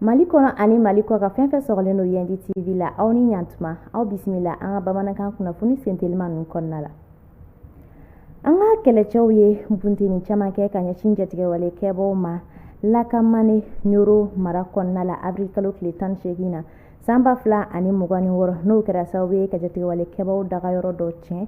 mali kɔnɔ ani mali kɔkan fɛn fɛn sɔgɔlen don yandi tv la aw ni ɲantuma aw bisimila an ka bamanankan kunnafoni sentelima ninnu kɔnɔna la an ka kɛlɛcɛw ye bunteni caman kɛ ka ɲɛsin jatigɛwale kɛbaw ma lakamane ɲoro mara kɔnɔna la abril kalo tile tan ni seegin na san ba fila ani mugan ni wɔɔrɔ n'o kɛra sababu ye ka jatigɛwale kɛbaw daga yɔrɔ dɔ tiɲɛ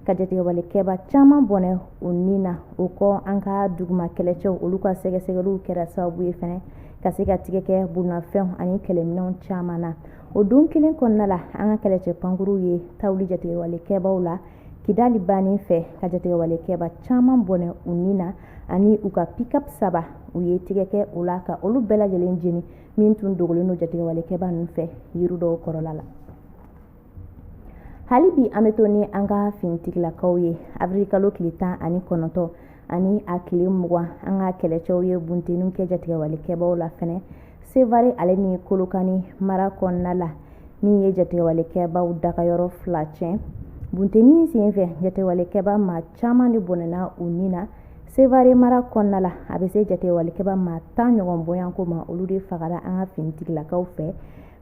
ka jatigɛwale kɛba caman bɔnɛ u ni na o kɔ an ka duguma kɛlɛcɛw olu ka sɛgɛsɛgɛliw kɛra sababu ye fana ka se ka tigɛ kɛ bolomafɛnw ani kɛlɛminɛw caman na o don kelen kɔnɔna la an ka kɛlɛcɛ pankuruw ye ta wuli jatigɛwale kɛbaw la kidali bannen fɛ ka jatigɛwale kɛba caman bɔnɛ u ni na ani u ka pikap saba u ye tigɛ kɛ o la ka olu bɛɛ lajɛlen jeni min tun dogolen don jatigɛwalekɛba ninnu fɛ yiri dɔw kɔrɔla la hali bi an bɛ to ni an ka finitigilakaw ye abirikalo tile tan ani kɔnɔntɔn ani a tile mugan an ka kɛlɛcɛw ye bunteninw kɛ jatigɛwalekɛbaw la fɛnɛ sevare ale ni kolokani mara kɔnɔna la min ye jatigɛwalekɛbaw dagayɔrɔ fila tiɲɛ buntenin sen fɛ jatigɛwalekɛba maa caman de bɔnɛna u ni na Sevare mara kɔnɔna la a bɛ se jatigɛwalekɛba maa tan ɲɔgɔn bɔɲɔgɔnko ma olu de fagara an ka finitigilakaw fɛ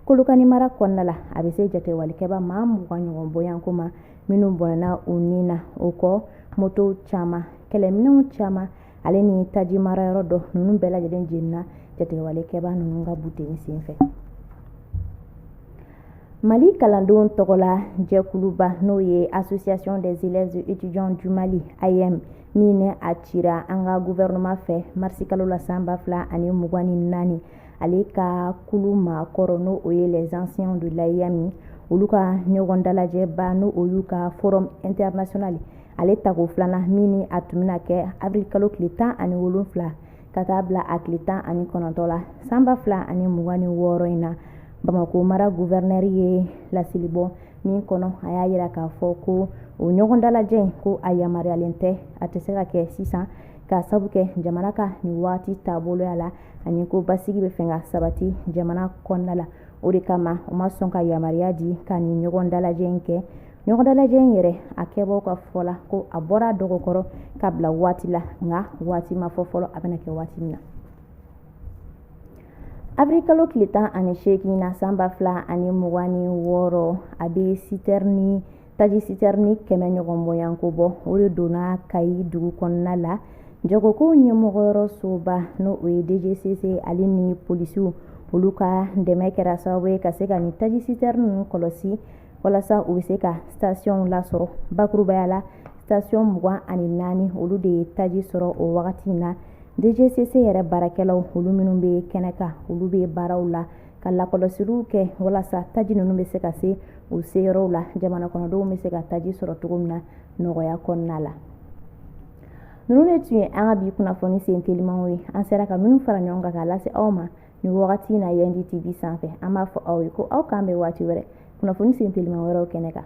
kolokani mara kɔnɔna la a bɛ se jatigɛwalekɛba maa mugan ɲɔgɔn bɔɲɔgɔnko ma minnu bɔnɛna u ni na o kɔ motow caman kɛlɛminɛnw caman ale ni taji marayɔrɔ dɔ ninnu bɛɛ lajɛlen jenina jatigɛwalekɛba ninnu ka bunteni senfɛ Mali kalandenw tɔgɔla jɛkuluba n'o ye association des élèves et étudiants du Mali AEEM min ni a cira an ka gouvernement fɛ marisi kalo la san ba fila ani mugan ni naani ale ka kulu maakɔrɔ n'o o ye les anciens de l'AEEM olu ka ɲɔgɔn dalajɛba n'o o y'u ka forum international ale tako filanan min ni a tun bɛna kɛ avril kalo tile tan ani wolonfila ka taa bila a tile tan ani kɔnɔntɔ la san ba fila ani mugan ni wɔɔrɔ in na bamako mara guvɛrinɛri ye laseli bɔ min kɔnɔ a y'a yira k'a fɔ ko o ɲɔgɔn dalajɛ in ko a yamaruyalen tɛ a tɛ se ka kɛ sisan ka sabu kɛ jamana ka nin waati taaboloya la ani ko basigi bɛ fɛ ka sabati jamana kɔnɔna la o de kama u ma sɔn ka yamaruya di ka nin ɲɔgɔn dalajɛ in kɛ ɲɔgɔndalajɛ in yɛrɛ a kɛbaw ka fɔ la ko a bɔr'a dɔgɔ kɔrɔ ka bila waati la nka waati ma fɔ fɔlɔ a bɛna kɛ waati min na abirikalo tile tan ani seegin na san ba fila ani mugan ni wɔɔrɔ a bɛ taji sitɛrini kɛmɛ ɲɔgɔn bɔɲɔgɔnko bɔ o de donna kayi dugu kɔnɔna la jagokow ɲɛmɔgɔyɔrɔ soba n'o o ye dgcc ale ni polisiw olu ka dɛmɛ kɛra sababu ye ka se ka nin taji sitɛrini ninnu kɔlɔsi walasa u bɛ se ka stationw lasɔrɔ bakurubaya la station mugan ani naani olu de ye taji sɔrɔ o wagati in na dgcc yɛrɛ baarakɛlaw olu minnu bɛ kɛnɛ kan olu bɛ baaraw la ka lakɔlɔsiliw kɛ walasa taji ninnu bɛ se ka se u seyɔrɔw la jamana kɔnɔdenw bɛ se ka taji sɔrɔ cogo min na nɔgɔya kɔnɔna la ninnu de tun ye an ka bi kunnafoni sen telimanw ye an sera ka minnu fara ɲɔgɔn kan k'a lase aw ma nin wagati na yandi tv sanfɛ an b'a fɔ aw ye ko aw k'an bɛn waati wɛrɛ kunnafoni sen teliman wɛrɛw kɛnɛ kan